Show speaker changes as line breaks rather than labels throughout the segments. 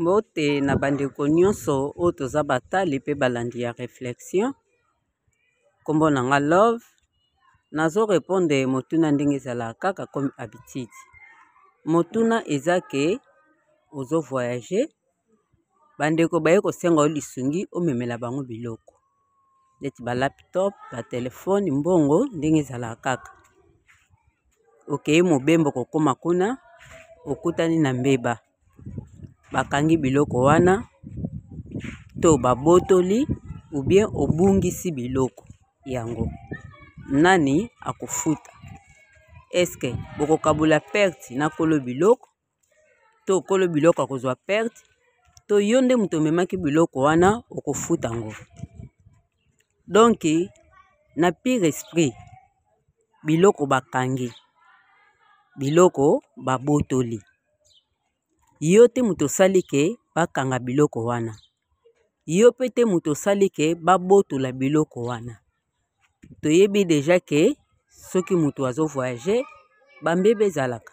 mbote na bandeko nyonso oyo toza batali mpe balandi ya réflexion nkombo na nga love nazo répondre motuna ndenge ezalaka kaka comme habitude motuna eza ke ozo voyage bandeko baye kosenga yo lisungi omemela bango biloko neti ba laptop ba telefone mbongo ndenge ezalaka kaka okei mobembo kokoma kuna okutani na mbeba bakangi biloko wana to babotoli oubien obungisi biloko yango nani akofuta eske bokokabola perte na kolo biloko to okolo biloko akozwa perte to yo nde moto omemaki biloko wana okofuta yango donk na pire esprit biloko bakangi biloko babotoli yo te moto osali ke bakanga biloko wana yo mpe te moto osali ke babotola biloko wana toyebi deja ke soki moto azo voyage bambeba ezalaka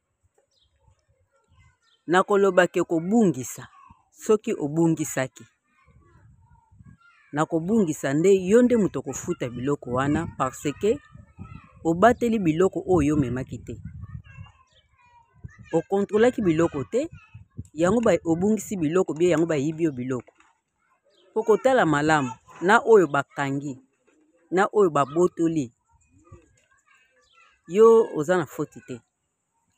nakoloba ke kobungisa soki obungisaki nakobungisa nde yo nde moto okofuta biloko wana parce que obateli biloko oyo yo omemaki te okontrolaki biloko te yango obungisi biloko bie yango bayibi yo biloko Okotala malamu na oyo bakangi na oyo babotoli yo oza na foti te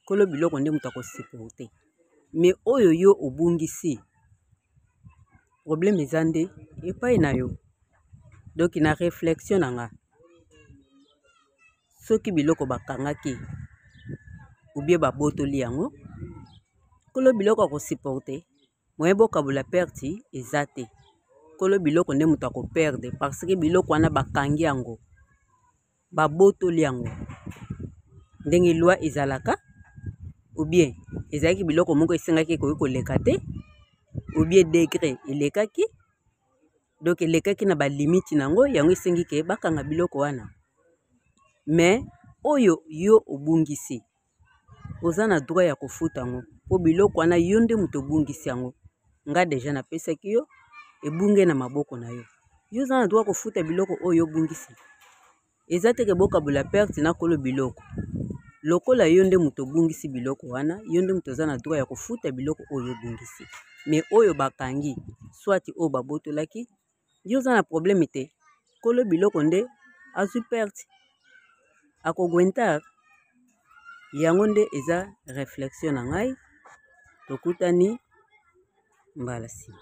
kolo biloko nde moto akosepela te me oyo yo obungisi probleme eza nde epai na yo donk na reflexion na nga soki biloko bakangaki ubie babotoli yango kolo biloko akosupporte moyen bokabola perte eza te kolo biloko nde moto akoperde parce que biloko wana bakangi yango babotoli yango ndenge lwa ezalaka obien ezalaki biloko moko esengaki ekoki koleka te obien degre elekaki donk elekaki na balimite na yango yango esengi ke bakanga biloko wana me oyo yo obungisi oza na droit ya kofuta yango mpo biloko wana yo nde moto obungisi yango nga deja napesaki yo ebunge na maboko na yo yo oza na droit kofuta biloko oyo obungisi eza teke bokabola perte na kolo biloko lokola yo nde moto obungisi biloko wana yo nde moto oza na droit ya kofuta biloko oyo obungisi me oyo bakangi swati oyo babotolaki yo oza na problème te kolo biloko nde azwi perte akogwentar yango nde eza réflexion na ngai tokutani mbala nsima